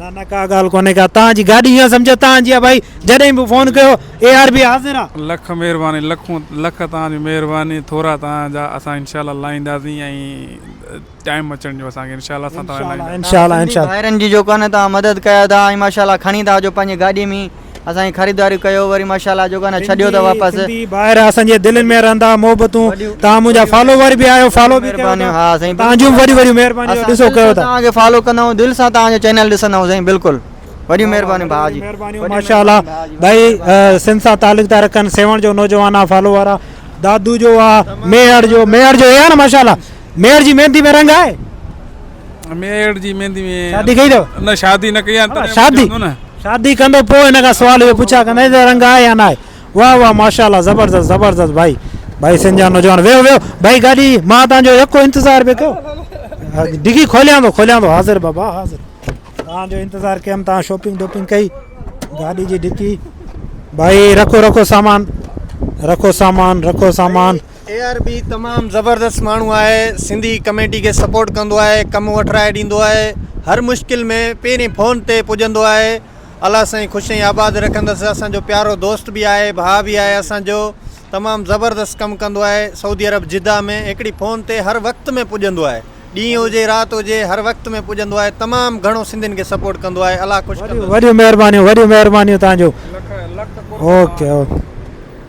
نه نه ڪا ڳالهه ڪونهي ڪا توهان جي گاڏي هيئن سمجهه توهان جي آ ڀائي جڏهن به فون ڪيو اي آر بي حاضر آ. لک مهرباني لکون لک توهان جي مهرباني ٿورا توهان جا اسان انشاء الله لائينداسين ۽ ٽائيم اچڻ جو اسان کي انشاء الله اسان توهان جي لائينداسين. توهان سنڌي ڀائرن جي جو ڪانه توهان مدد ڪيا ٿا ۽ ماشاء الله کڻي ٿا اچو پنهنجي گاڏي ۾ اسان جي خريداري ڪيو وري ماشاءالله جوڪا نه ڇڏيو ته واپس سنڌي ڀائر اسان جي دلين ۾ رهندا محبتون توهان منهنجا فالوور به آهيو فالو به ڪيو مهربانيون، ها سائين، توهان جون وڏيون وڏيون مهربانيون اسان ڏسو دل ڪيو سان ٿا توهان کي فالو ڪندا آهيون دل سان توهان جو چينل ڏسندا آهيون سائين بلڪل وڏيون مهربانيون ڀاء جي مهربانيون ماشاء الله ڀائي سنڌ سان تعلق ٿا رکن سيوهڻ جو نوجوان آ فالوور آ دادو جو آ ميهڙ جو ميهڙ جو اي آ نه ماشاء الله ميڙ جي ميندي ۾ رنگ آهي؟ ميڙ جي ميندي ۾ شادي ڪئي اٿو؟ نه شادي نه ڪئي آهي شادي شادي ڪندو پوء هن کان سوال اهو پڇا ڪندين ته رنگ آهي يا ناهي واهه واهه ماشاءالله زبردست زبردست ڀائي ڀائي سنڌ جا نوجوان ويهو ويهو ڀائي گاڏي مان توهان جو يڪو انتظار پيو ڪيو ڊگي کوليان ٿو کوليان ٿو حاضر بابا حاضر توهان جو انتظار ڪيم توهان شاپنگ ڊوپنگ ڪئي گاڏي جي ڊڪي ڀائي رکو رکو سامان رکو سامان رکو سامان اي آر بي تمام زبردست ماڻهو آهي سنڌي ڪميٽي کي سپورٽ ڪندو آهي ڪم وٺرائي ڏيندو آهي هر مشڪل ۾ پهرين فون تي پڄندو آهي الله سائين خوش ۽ آباد رکندس اسانجو پيارو دوست به آهي ڀاء به آهي اسانجو تمام زبردست ڪم ڪندو آهي سعودي عرب جده ۾ هڪڙي فون تي هر وقت ۾ پڄندو آهي ڏينهن هجي رات هجي هر وقت ۾ پڄندو آهي تمام گهڻو سنڌين کي سپورٽ ڪندو آهي الله خوش ڪندس وڏيون مهربانيون وڏيون مهربانيون توهان جو اوڪي اوڪي